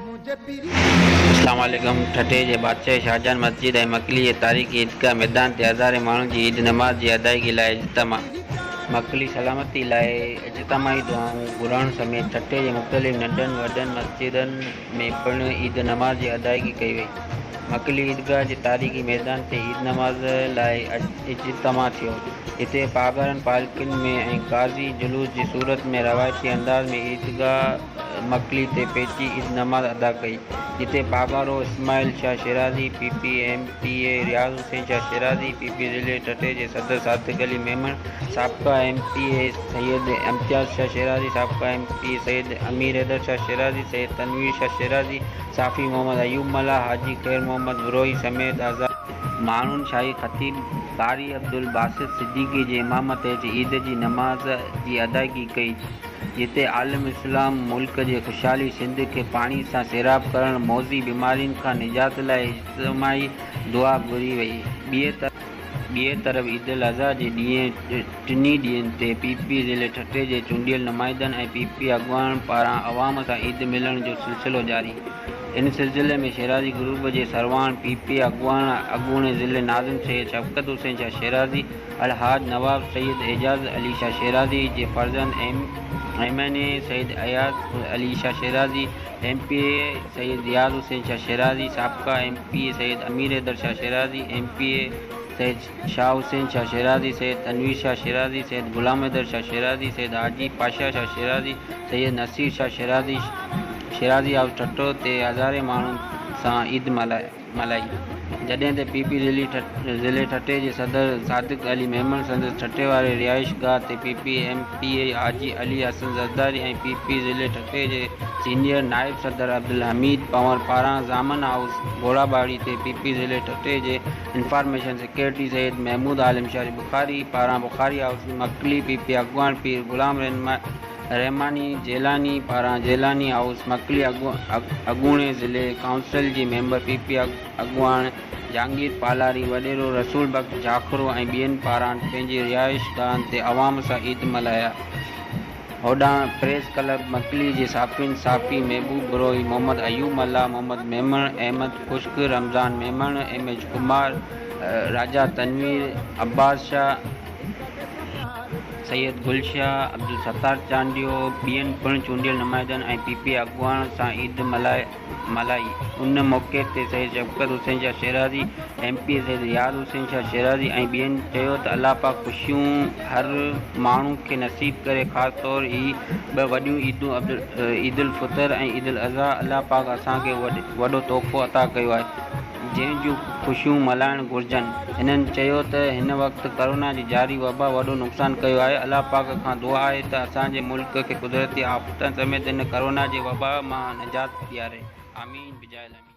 اسلام عليڪم، ٺٽي جي بادشاهي شاهجهان مسجد ۽ مڪلي جي تاريخي عيدگاهه ميدان تي هزارين ماڻهن جي عيد نماز جي ادائيگي لاء اجتماع. مڪلي سلامتي لاء اجتماعي دعائون گهرڻ سميت ٺٽي جي مختلف ننڍن وڏن مسجدن ۾ پڻ عيد نماز جي ادائيگي ڪئي وئي. مڪلي عيدگاهه جي تاريخي ميدان تي عيد نماز لاء اجتماع ٿيو، جتي پاڳارن پالڪين ۾ ۽ غازي جلوس جي صورت ۾ روايتي انداز ۾ عيدگاهه مڪلي تي پهچي عيد نماز ادا ڪئي، جتي Pagaro Ismail Shah Shirazi, P P, M P A Riaz Hussain Shah Shirazi, P P ضلعي ٺٽي جي صدر صادق علي ميمڻ، سابقه M P A Syed Imtiaz Shah Shirazi, سابقه M P A Syed Amir Haider Shah Shirazi, Syed Tanveer Shah Shirazi, صحافي محمد ايوب ملاح، حاجي خير محمد بروهي سميت هزارين ماڻهن شاهي خطيب قاري عبدالباسط صديقي جي امامت هيٺ عيد جي نماز جي ادائيگي ڪئي. جتي عالم اسلام ملڪ جي خوشحالي سنڌ کي پاڻي سان سيراب ڪرڻ موذي بيمارين کان نجات لاء اجتماعي دعا گهري وئي ٻئي طرف عيد الاضحي جي ڏينهن ٽنهي ڏينهن تي پي پي ضلعي ٺٽي جي چونڊيل نمائندن ۽ پي پي اڳواڻن پاران عوام سان عيد ملڻ جو سلسلو جاري ان سلسلي ۾ شيرازي گروپ جي سرواڻ پي پي اڳواڻ اڳوڻي ضلعي ناظم سيد شفقت حسين شاهه شيرازي الحاج نواب سيد اعجاز علي شاهه شيرازي جي فرزند M N A Syed Ayaz Ali Shah Shirazi, M P A Syed Riaz Hussain Shah Shirazi, سابقه M P A Syed Amir Haider Shah Shirazi, M P A Syed Shah Hussain Shah Shirazi, Syed Tanveer Shah Shirazi, Syed Ghulam Haider Shah Shirazi, Syed Haji Pasha Shah Shirazi, Syed Naseer Shah Shirazi Shirazi house Thatta تي هزارين ماڻهن سان عيد ملهائي. ملائي، جڏهن ته پي پي ضلعي ضلعي ٺٽي جي صدر صادق علي ميمڻ سندس ٺٽي واري رهائش گاهه تي P P M P A Haji Ali Hassan Zardari ۽ P P ضلعي ٺٽي جي سينيئر نائب صدر عبدالحميد پنور پاران ضامن هائوس گهوڙا ٻاڙي تي پي پي ضلعي ٺٽي جي انفارميشن سيڪريٽري سيد محمود عالم شاهه بخاري پاران Bukhari house Makli P P اڳواڻ پير غلام رهنما رحماني جيلاني پاران جيلاني هائوس مڪلي اڳوڻي ضلعي ڪائونسل جي ميمبر پي پي اڳواڻ جهانگير پالاري وڏيرو رسول بخش جاکرو ۽ ٻين پاران پنهنجي رهائشگاهن تي عوام سان عيد ملهايا هوڏانهن پريس ڪلب مڪلي جي صحافين صحافي محبوب بروهي محمد ايوب ملاح محمد ميمڻ احمد خشڪ رمضان ميمڻ ايم ايڇ ڪمار راجا تنوير عباس شاهه سيد گل شاهه، عبدالستار چانڊيو، ٻين پڻ چونڊيل نمائندن ۽ پي پي اي اڳواڻن سان عيد ملهائي. ان موقعي تي Syed Shafqat Hussain Shah Shirazi, M P A Syed Riaz Hussain Shah Shirazi ۽ ٻين چيو ته الله پاڪ خوشيون هر ماڻهو کي نصيب ڪري خاص طور هي ٻه وڏيون عيدون عيدالفطر ۽ عيدالاضحيٰ الله پاڪ اسان کي وڏو تحفو عطا ڪيو آهي. جنهن جون خوشيون ملهائڻ گهرجن. هنن چيو ته هن وقت ڪورونا جي جاري وبا وڏو نقصان ڪيو آهي، الله پاڪ کان دعا آهي ته اسان جي ملڪ کي قدرتي آفتن سميت هن ڪورونا جي وبا مان نجات ڏياري، آمين بجاء الامين.